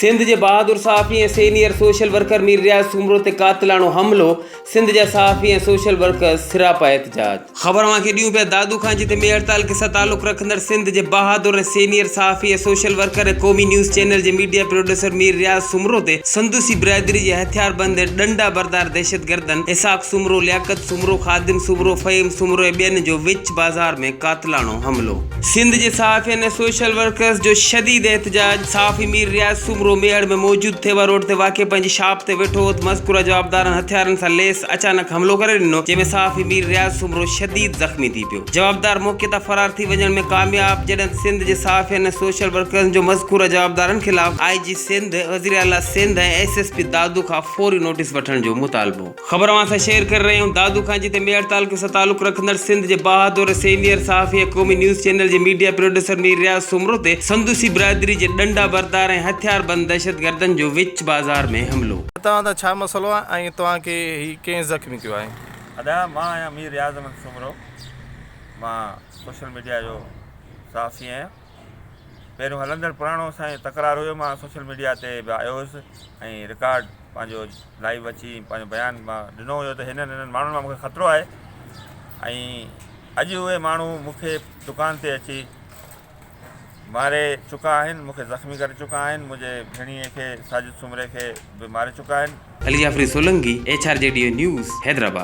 سنڌ جي بهادر صحافي ۽ senior social worker Mir Riaz Soomro تي قاتلاڻو حملو، سنڌ جا صحافي ۽ سوشل ورڪرز سراپا احتجاج. خبر اوهان کي ڏيون پيا دادو خان جتي مير هڙتال کي سان تعلق رکندڙ سنڌ جي بهادر ۽ سينيئر صحافي ۽ سوشل ورڪر ۽ قومي نيوز چينل جي ميڊيا پروڊيوسر مير رياض سومرو تي سندوسي برادري جي هٿياربند ۽ ڏنڊا بردار دهشتگردن اسحاق سومرو، لياقت سومرو، سومرو خادم سومرو فهيم سومرو ۽ ٻين جو وچ بازار ۾ قاتلاڻو حملو. سنڌ جي صحافين ۽ سوشل ورڪرز جو شديد احتجاج، صحافي مير رياض سومرو ميهڙ ۾ موجود ٿيوا روڊ تي واقع پنهنجي شاپ تي ويٺو هوت مذڪوره جوابدارن هٿيارن سان ليس اچانڪ حملو ڪري ڏنو جنهن ۾ صحافي مير رياض سومرو شديد زخمي ٿي پيو جوابدار موقعي تان فرار ٿي وڃڻ ۾ ڪامياب جڏهن ته سنڌ جي صحافين ۽ سوشل ورڪرز جو مذڪوره جوابدارن خلاف آء جي سنڌ وزيراعليٰ Sindh ۽ S S P Dadu کان فوري نوٽيس وٺڻ جو مطالبو خبر اوهان سان شيئر ڪري رهيا آهيون دادو کان جتي ميهڙ تعلقي سان تعلق رکندڙ سنڌ جي بهادر سينيئر صحافي ۽ قومي نيوز چينل جي ميڊيا پروڊيوسر مير رياض سومرو تي سندوسي برادري جي ڏنڊا بردار ۽ هٿيار بند دهشتگردن جو وچ بازار ۾ حملو توهان سان ڇا مسئلو آهي ۽ توهان کي هي ڪنهن زخمي ڪيو آهي؟ ادا مان آهيان مير رياض احمد سومرو مان سوشل ميڊيا جو صحافي آهيان. پهريون هلندڙ پراڻو سائين تڪرار هيو مان سوشل ميڊيا تي به آيو هيس ۽ رڪارڊ پنهنجو لائيو اچي پنهنجو بيان مان ڏنو هيو ته هنن هنن ماڻهن مان مونکي خطرو آهي ۽ اڄ اهي ماڻهو مونکي دڪان تي اچي ماري چڪا آهن مونکي زخمي ڪري چڪا آهن منهنجي ڀيڻيء کي ساجد سومري کي به ماري چڪا آهن. Ali Jafri Solangi, H R G D A news, Hyderabad.